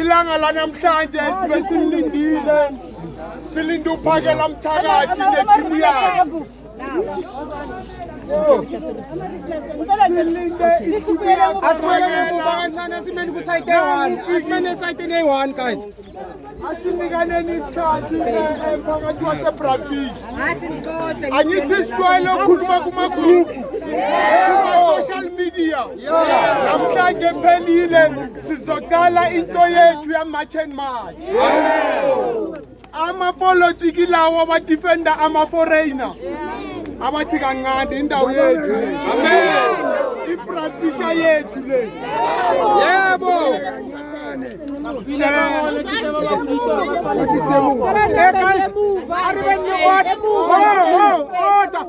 Ilanga lanamhlanje sibe silindile silinde uphakela mthakathi nethimu yakhe asinikaneni isikhathi mphakathi wasebrafish angithi sijwayele ukukhuluma kuma-group kuma-social media Namhlanje phelile sizoqala into yethu ya march and march. Amapolitiki lawo abadefenda ama-foreigner abathi kancane indawo yethu ipractisha yethu le yebo Order!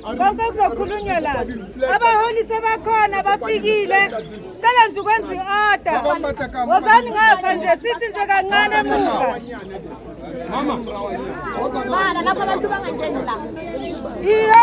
konke okuzokhulunywa la abaholi sebakhona bafikile cela nje ukwenza i-order wozani ngapha nje sithi nje kancane muva iyo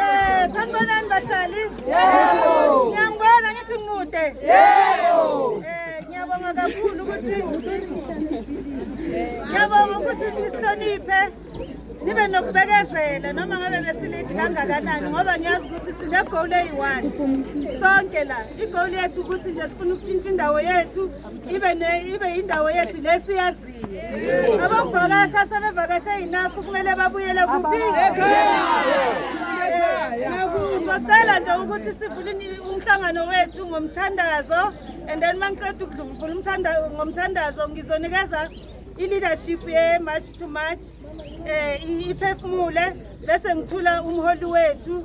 Eh, sanibonani bahlali. Yebo. Ngiyangibona ngithi ngimude. Yebo. Eh, ngiyabonga kakhulu ukuthi Ngiyabonga ukuthi nisihloniphe. Nibe nokubekezela noma ngabe besilidi kangakanani ngoba ngiyazi ukuthi sine goal eyi-one. Sonke la, i-goal yethu ukuthi nje sifuna ukutshintsha indawo yethu ibe ne ibe indawo yethu lesiyazi abavakashi asebevakashe enough kumele babuyele kuphi ngicela nje ukuthi sivule umhlangano wethu ngomthandazo and then uma ngiqeda ukuvula ngomthandazo ngizonikeza i-leadership ye-march to march um iphefumule bese ngithula umholi wethu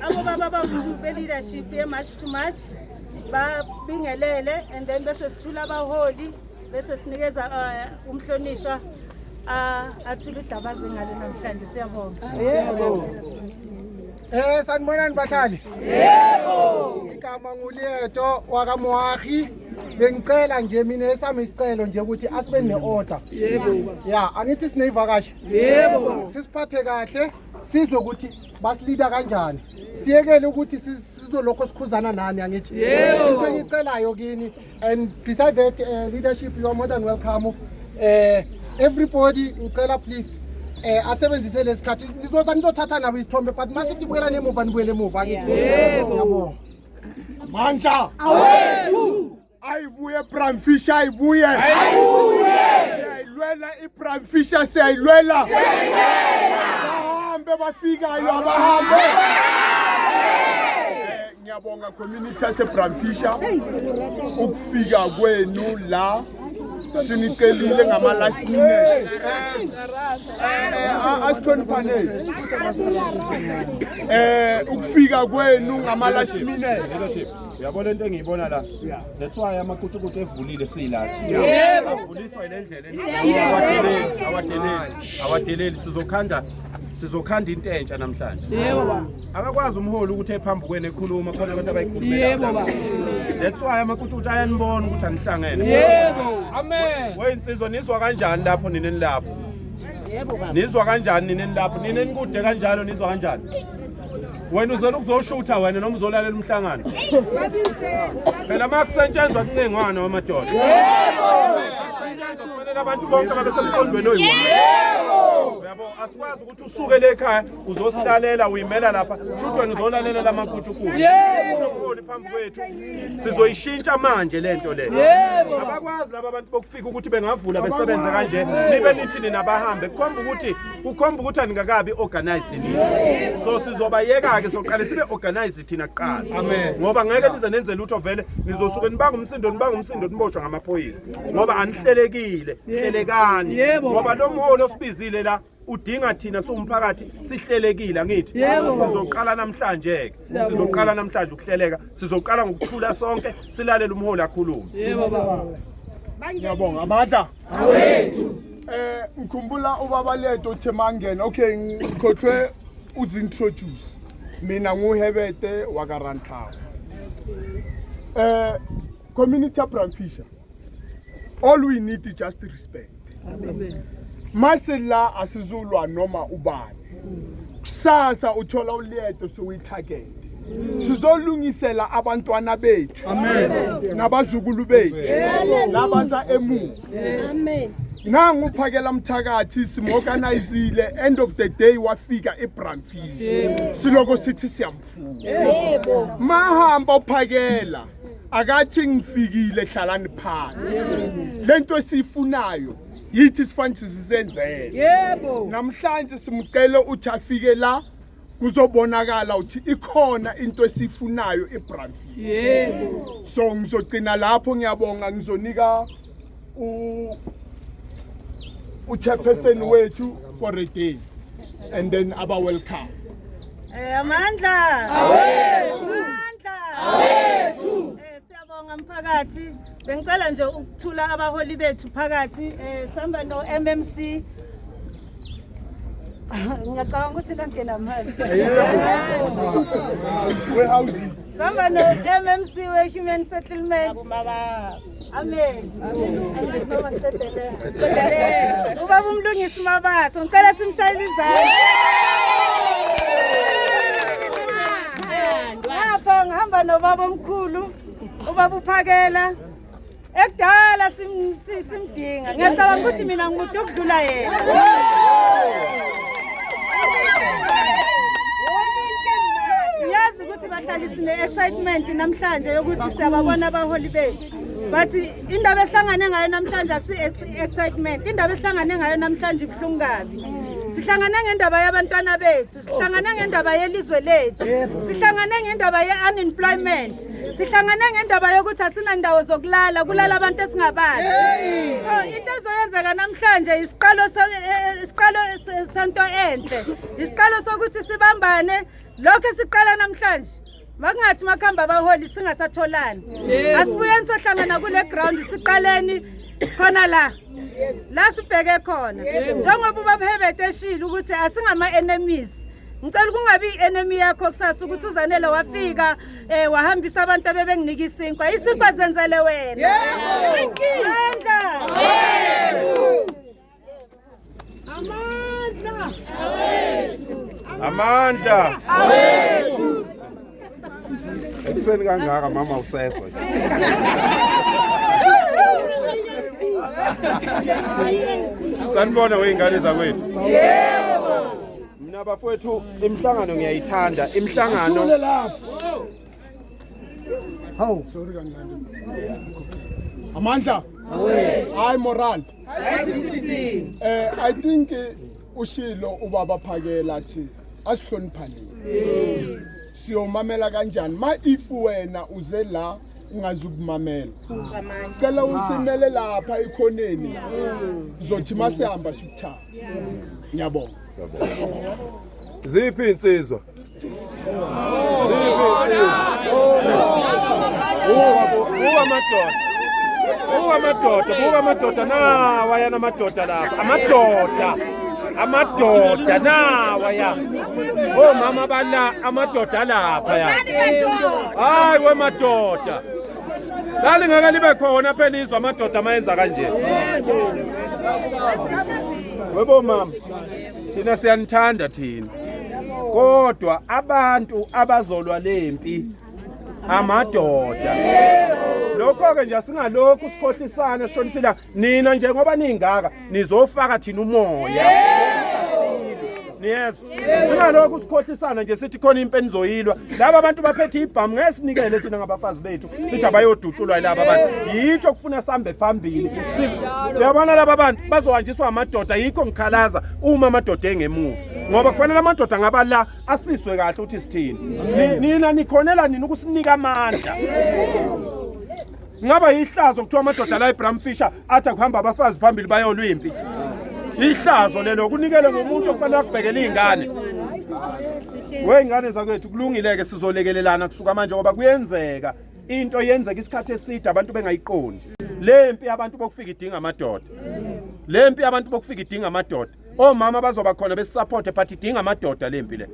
Abo baba bawuthu be-leadership ye-march to march babingelele and then bese sithula abaholi bese sinikeza uh, umhlonishwa uh, athule udaba zingale namhlanje siyabonga Eh sanibonani bahlali. Yebo. Igama nguLieto wakaMoahi. Bengicela nje mina esami isicelo nje ukuthi asibe neorder. Yebo. Yeah, angithi sineyivakashi. Yebo. Sisiphathe kahle sizwe ukuthi basilida kanjani siyekele ukuthi sizolokho sikhuzana nani angithi into engicelayo kini and beside that uh, leadership you are more than welcome uh, everybody ngicela please eh asebenzise lesikhathi nizoza nizothatha nabo isithombe but masithi buyela nemuva nibuyele emuva ngithi ngiyabonga mandla awethu ayibuye prime fish ayibuye siyayilwela i-prime fisher siyayilwela bahambe bafikayo abahambe Eh, ngiyabonga community yaseprime fisher ukufika kwenu la sinicelile ngama-last minute Ah, asihloniphaneni um ukufika kwenu ngama-last minute Uyabo lento engiyibona la. That's why amakutukutu evulile silathi. Yebo. Avuliswa ile ndlela. Awadeleli, awadeleli, awadeleli sizokhanda sizokhanda into entsha namhlanje. Yebo baba. Akakwazi umholi ukuthi ephambi kwenu ekhuluma khona abantu abayikhulumela. Yebo baba. That's why amakutukutu ayanibona ukuthi anihlangene. Yebo. Amen. Weyinsizwa nizwa kanjani lapho nini lapho? Yebo baba. Nizwa kanjani nini lapho? Nini nikude kanjalo nizwa kanjani? wena uzela ukuzoshutha wena noma uzolalela umhlangano phela uma kusetshenzwa kuncengwana wamadoda kufanele abantu bonke babe semqondweni oyiwona yabo asikwazi ukuthi usuke le ekhaya uzosilalela uyimela lapha shuthi wena uzolalela la makutukutu yebo phambi kwethu sizoyishintsha manje le nto le abakwazi laba abantu fika ukuthi bengavula besebenze kanje nibe nithi nina bahambe kukhomba ukuthi kukhomba ukuthi aningakabi organized nini so sizobayeka ke soqale sibe organized thina kuqala ngoba ngeke nize nenze lutho vele nizosuke nibanga umsindo nibanga umsindo niboshwa ngamaphoyisa ngoba anihlelekile hlelekani ngoba lo mholo osibizile la udinga thina siwumphakathi sihlelekile angithi sizoqala namhlanje ke sizoqala namhlanje ukuhleleka sizoqala ngokuthula sonke silalele umholi akhulume yebo baba ngiyabonga amandla awethu eh ngikhumbula ubaba leto uthe mangena okay ngikhothwe uzintroduce mina nguhebete wakaranthawa eh community ya Brandfisher all we need is just respect mase la asizulwa noma ubani kusasa uthola uliyeto siwithagete sizolungisela abantwana bethu nabazukulu bethu nabasa emuva nangu uphakela mthakathi simorganizile end of the day wafika ebramfish siloko sithi siyam mahamba uphakela akathi ngifikile hlalani phansi lento esiyifunayo yithi sifanele sizenzele yebo namhlanje simcele uthi afike la kuzobonakala ukuthi ikhona into esiyifunayo ebranfini yebo so ngizogcina lapho ngiyabonga ngizonika uchairperson wethu for a day and then aba welcome eh amandla awethu amandla awethu eh siyabonga mphakathi bengicela nje ukuthula abaholi bethu phakathi eh samba no MMC ngiyacabanga ukuthi longena manje we housing samba no MMC we human settlement Amen. Ubaba umlungisi mabaso ngicela simshayele izandla. Ngapha ngihamba nobaba omkhulu ubaba uphakela ekudala simdinga ngiyacabanga ukuthi mina ngimuntu okudlula yena. Ngiyazi ukuthi bahlale sine-excitement namhlanje yokuthi siyababona abaholi bethu bathi indaba esihlangane ngayo namhlanje akusi-excitement indaba esihlangane ngayo namhlanje ibuhlungu kabi sihlangane ngendaba yabantwana bethu sihlangane ngendaba yelizwe lethu sihlangane ngendaba ye-unemployment sihlangane ngendaba yokuthi asinandawo zokulala kulala abantu esingabazi so into ezoyenzeka namhlanje isiqalo e, e, sento enhle isiqalo sokuthi sibambane lokho esiqala namhlanje makungathi makuhamba abaholi singasatholani asibuyeni sohlangana kule ground siqaleni khona la la sibheke khona njengoba ubabhebete eshile ukuthi asingama-enemies ngicela ukungabi i-enemy yakho kusasa ukuthi uzanele wafika um wahambisa abantu abebenginika isinkwa isinkwa zenzele wena Amandla awethu. Amandla awethu. Ekuseni kangaka mama usezwa. Sanibona weyingane zakwethu. Yebo. Mina bafowethu imhlangano ngiyayithanda. Imhlangano. Hawu, sorry kancane. Amandla. Hayi moral. eh i think eh, ushilo ubaba phakela athi asihloniphanile siyomamela kanjani ma if wena uze la ungazi ukumamela sicela usimele lapha ikhoneni zothi masihamba sikuthatha ngiyabonga ziphi insizwa amadoda buka amadoda nawa yana amadoda lapha amadoda amadoda nawa ya omama oh, bala amadoda lapha ya hayi wemadoda lalingeke libe khona phela izwa amadoda amayenza kanje webo mama thina siyanithanda thina kodwa abantu abazolwa lempi amadoda lokho-ke nje singalokhu sikhohlisana sishonisela nina njengoba ningaka nizofaka thina umoya niyezwa singalokhu sikhohlisana nje sithi khona impi enizoyilwa laba bantu baphethe ibhamu ngeke sinikele thina ngabafazi bethu sithi abayodutshulwa ilaba bantu yitho kufuna sambe phambili uyabona laba bantu bazohanjiswa amadoda yikho ngikhalaza uma amadoda engemuva ngoba kufanele amadoda ngaba la asizwe kahle ukuthi sithini nina nikhonela nini ukusinika amandla ngaba yihlazo kuthiwa amadoda la ebramfisher athi akuhamba abafazi phambili bayolwa impi ihlazo lelo kunikele ngomuntu okufanele akubhekele iy'ngane wey'ngane zakwethu kulungile-ke sizolekelelana kusuka manje ngoba kuyenzeka into yenzeka isikhathi eside abantu bengayiqondi le mpi abantu bokufika idinga amadoda le mpi abantu bokufika idinga amadoda omama bazoba khona besisapothe but idinga amadoda le mpi le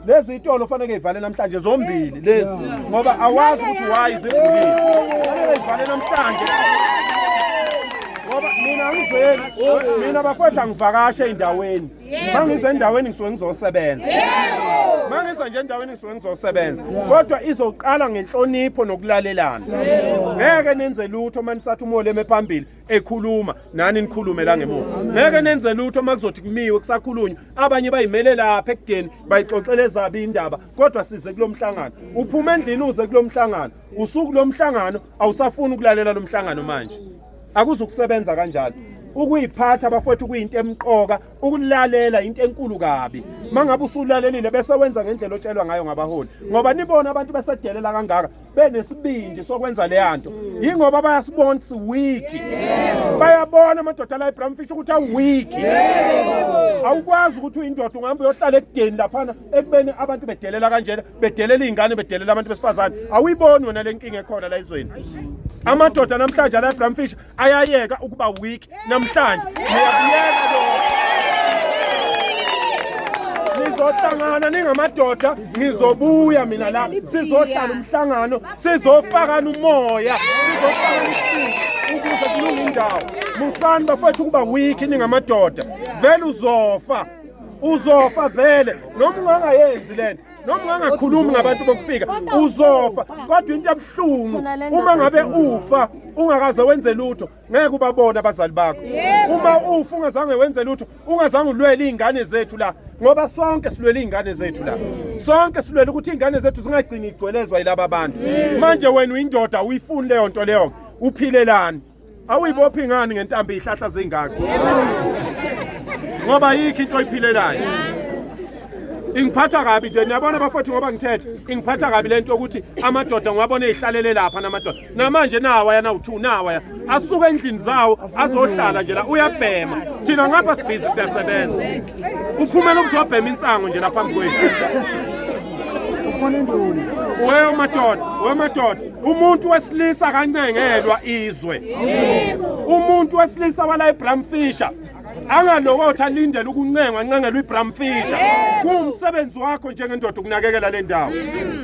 lezi itolo faneke ivale namhlanje zombili lezi ngoba awazi ukuthi why zivulile faneke ivale namhlanje ngoba mina angizeli mina bafowethu angivakashe endaweni mangize endaweni ngisuke ngizosebenza mangiza nje endaweni ngisuke ngizosebenza kodwa izoqala ngenhlonipho nokulalelana ngeke nenze lutho manisathi umole emephambili ekhuluma nani nikhulume la ngemuva ngeke nenze lutho uma kuzothi kumiwe kusakhulunywa abanye bayimele lapha ekudeni bayixoxele ezabo indaba kodwa size kulo mhlangano uphuma endlini uze kulo mhlangano usuku lo mhlangano awusafuni ukulalela lo mhlangano manje akuzukusebenza kanjalo ukuyiphatha abafowethu kuyinto emqoka ukulalela into enkulu kabi mangabe usulalelile bese wenza ngendlela otshelwa ngayo ngabaholi ngoba nibona abantu besedelela kangaka benesibindi sokwenza leya nto yingoba bayasibona ukuthi siwiki bayabona amadoda la ebramfish ukuthi awiki awukwazi ukuthi uyindoda ungahamba uyohlala ekudeni laphana ekubeni abantu bedelela kanjena bedelela iy'ngane bedelela abantu besifazane awuyiboni wena le nkinga ekhona la ezweni amadoda namhlanje ala ebramfish ayayeka ukuba weak namhlanje niyakuyeka lokho nizohlangana ningamadoda ngizobuya mina la sizohlala umhlangano sizofakana umoya sizofakana isimo ukuze kulunge indawo musani bafethu ukuba weak ningamadoda vele uzofa uzofa vele noma ungangayenzi lento noma ungangakhulumi ngabantu bokufika uzofa kodwa into ebuhlungu uma ngabe ufa ungakaze wenze lutho ngeke ubabona abazali bakho uma ufa ungazange wenze lutho ungazange ulwele iy'ngane zethu la ngoba sonke silwele iy'ngane zethu la sonke silwele ukuthi iy'ngane zethu zingagcini igcwelezwa yilaba bantu manje wena uyindoda uyifuni leyo nto leyo uphilelani Awuyibophi ngani ngentambo ihlahla zingaka? Ngoba yikho into oyiphilelayo. Ingiphatha kabi nje niyabona bafowethu ngoba ngithethe ingiphatha kabi lento yokuthi amadoda ngiwabona ehlalele lapha namadoda namanje nawa yana u2 nawa ya asuke endlini zawo azohlala nje la uyabhema thina ngapha sibhizi siyasebenza uphumela ukuzobhema insango nje lapha mkwenu weyo madoda weyo madoda umuntu wesilisa akancengelwa izwe umuntu wesilisa wala ibram fisher angalokothi alindele ukuncengwa ncengelwa ibram fisher kuwumsebenzi wakho njengendoda ukunakekela le ndawo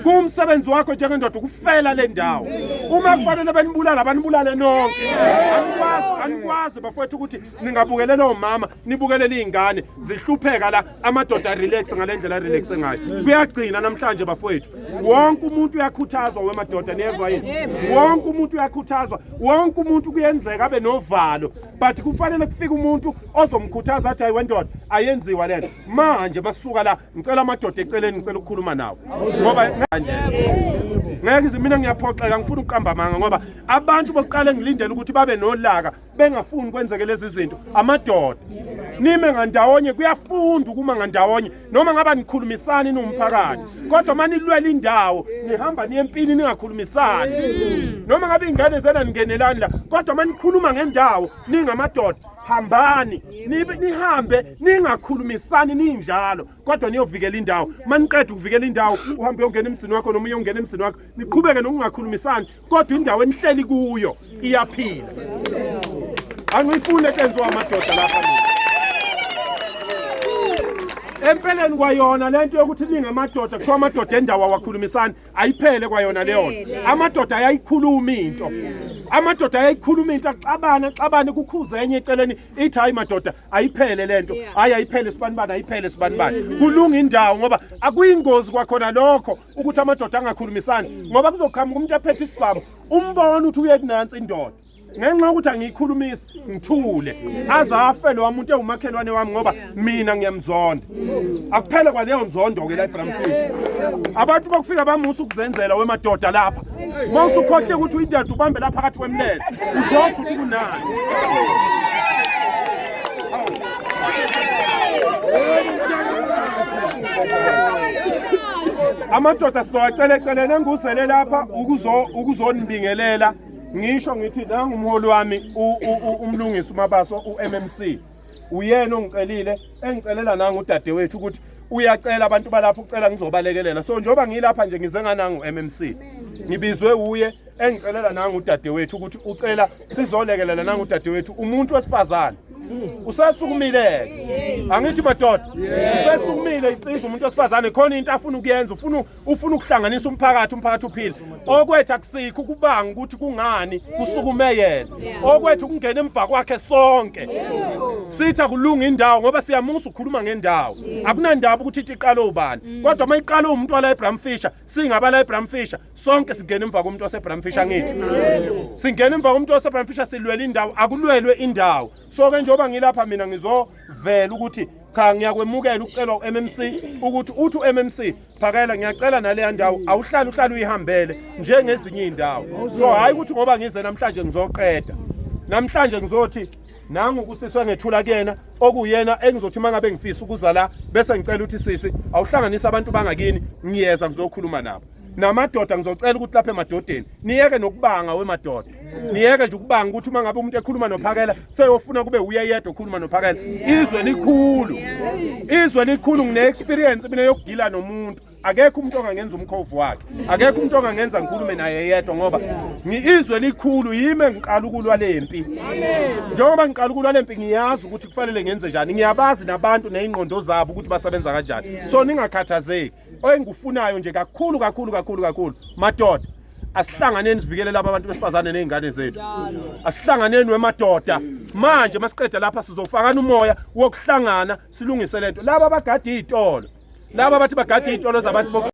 kuwumsebenzi wakho njengendoda ukufela le ndawo uma kufanele benibulala banibulale nonke anikwazi anikwazi bafowethu ukuthi ningabukele lowo mama nibukelele izingane zihlupheka la amadoda relax ngalendlela relax ngayo kuyagcina namhlanje bafowethu wonke umuntu uyakhuthazwa wemadoda niyezwa yini wonke umuntu uyakhuthazwa wonke umuntu kuyenzeka abe novalo but kufanele kufike umuntu ozomkhuthaza athi ayiwendoda ayenziwa lento manje basuka la ngicela amadoda eceleni ngicela ukukhuluma nawo ngoba manje ngeke mina ngiyaphoxeka ngifuna ukuqamba amanga ngoba abantu bokuqala ngilindele ukuthi babe nolaka bengafuni kwenzeke lezi zinto amadoda nime ngandawonye kuyafunda ukuma ngandawonye noma ngaba nikhulumisani niwumphakathi kodwa uma nilwela indawo nihamba niye empini ningakhulumisani noma ngabe iy'ngane zena ningenelani la kodwa uma nikhuluma ngendawo ningamadoda hambani nihambe ningakhulumisani ninjalo kodwa niyovikela indawo maniqeda ukuvikela indawo uhambe uyongena emzini wakho noma uyongena emzini wakho niqhubeke nokungakhulumisani kodwa indawo enihleli kuyo iyaphisa angiyifuni ekenziwa amadoda lapha empeleni kwayona lento yokuthi ningamadoda kuthiwa amadoda endawo awakhulumisani ayiphele kwayona leyona amadoda ayayikhuluma into amadoda ayayikhuluma into axabana axabane kukhuza enye eceleni ithi hayi madoda ayiphele lento hayi ayiphele sibanibani ayiphele sibanibani kulunga indawo ngoba akuyingozi kwakhona lokho ukuthi amadoda angakhulumisani ngoba kuzoqhamuka umuntu aphethe isibhamu umbona ukuthi uye kunansi indoda ngenxa yokuthi angiyikhulumisi ngithule azafe lo muntu ewumakhelwane wami ngoba mina ngiyamzonda akuphele kwaleyo nzondo-ke la ebramfish abantu bakufika bamusa ukuzenzela wemadoda lapha uma usukhohle ukuthi uyindoda ubambela phakathi kwemlenze uzoza ukuthi kunani amadoda sizowacelecelene enguzele lapha ukuzonibingelela ngisho ngithi nangumholi wami umlungisi umabaso u-mmc uyena ongicelile engicelela nanga udadewethu ukuthi uyacela abantu balapho ucela ngizobalekelela so njengoba ngilapha nje ngize nganangu MMC ngibizwe uye engicelela nangu udadewethu ukuthi ucela sizolekelela nangu udadewethu umuntu wesifazane usesukumile angithi madoda usesukumile insizwa umuntu wesifazane khona into afuna ukuyenza ufuna ufuna ukuhlanganisa umphakathi umphakathi uphile okwethu akusikho ukubanga ukuthi kungani kusukume yena okwethu ukungena emva kwakhe sonke sithi akulunga indawo ngoba siyamusa ukhuluma ngendawo akunandaba ukuthi ithi iqale ubani mm. kodwa uma iqale umuntu wala eBram Fisher singaba la eBram Fisher sonke singena emva komuntu waseBram Fisher ngithi singena emva komuntu waseBram Fisher silwela indawo akulwelwe indawo so ke njengoba ngilapha mina ngizovela ukuthi cha ngiyakwemukela ukucelwa uMMC ukuthi uthi uMMC phakela ngiyacela naleya ndawo awuhlali uhlala uyihambele njengezinye indawo so hayi ukuthi ngoba ngize namhlanje ngizoqeda namhlanje ngizothi nangu ukusiswa ngethula kuyena okuyena engizothi uma ngabe ngifisa ukuza la bese ngicela ukuthi sisi awuhlanganise abantu bangakini ngiyeza ngizokhuluma nabo namadoda ngizocela ukuthi lapha emadodeni niyeke nokubanga wemadoda niyeke nje ukubanga ukuthi uma ngabe umuntu ekhuluma nophakela seyofuna kube uye yedwa okhuluma nophakela izwe likhulu izwe likhulu ngine-experience mina yokugila nomuntu akekho umuntu ongangenza umkhovu wakhe akekho umuntu ongangenza ngikhulume naye yedwa ngoba izwe likhulu yime ngiqala ukulwa le mpi njengoba ngiqala ukulwa le mpi ngiyazi ukuthi kufanele ngenze njani ngiyabazi nabantu ney'ngqondo zabo ukuthi basebenza kanjani so ningakhathazeki Oyengikufunayo nje kakhulu kakhulu kakhulu kakhulu madoda asihlanganeni sivikele laba bantu besifazane nezingane zethu asihlanganeni wemadoda manje masiqeda lapha sizofakana umoya wokuhlangana silungise lento laba bagade izitolo laba bathi bagade izitolo zabantu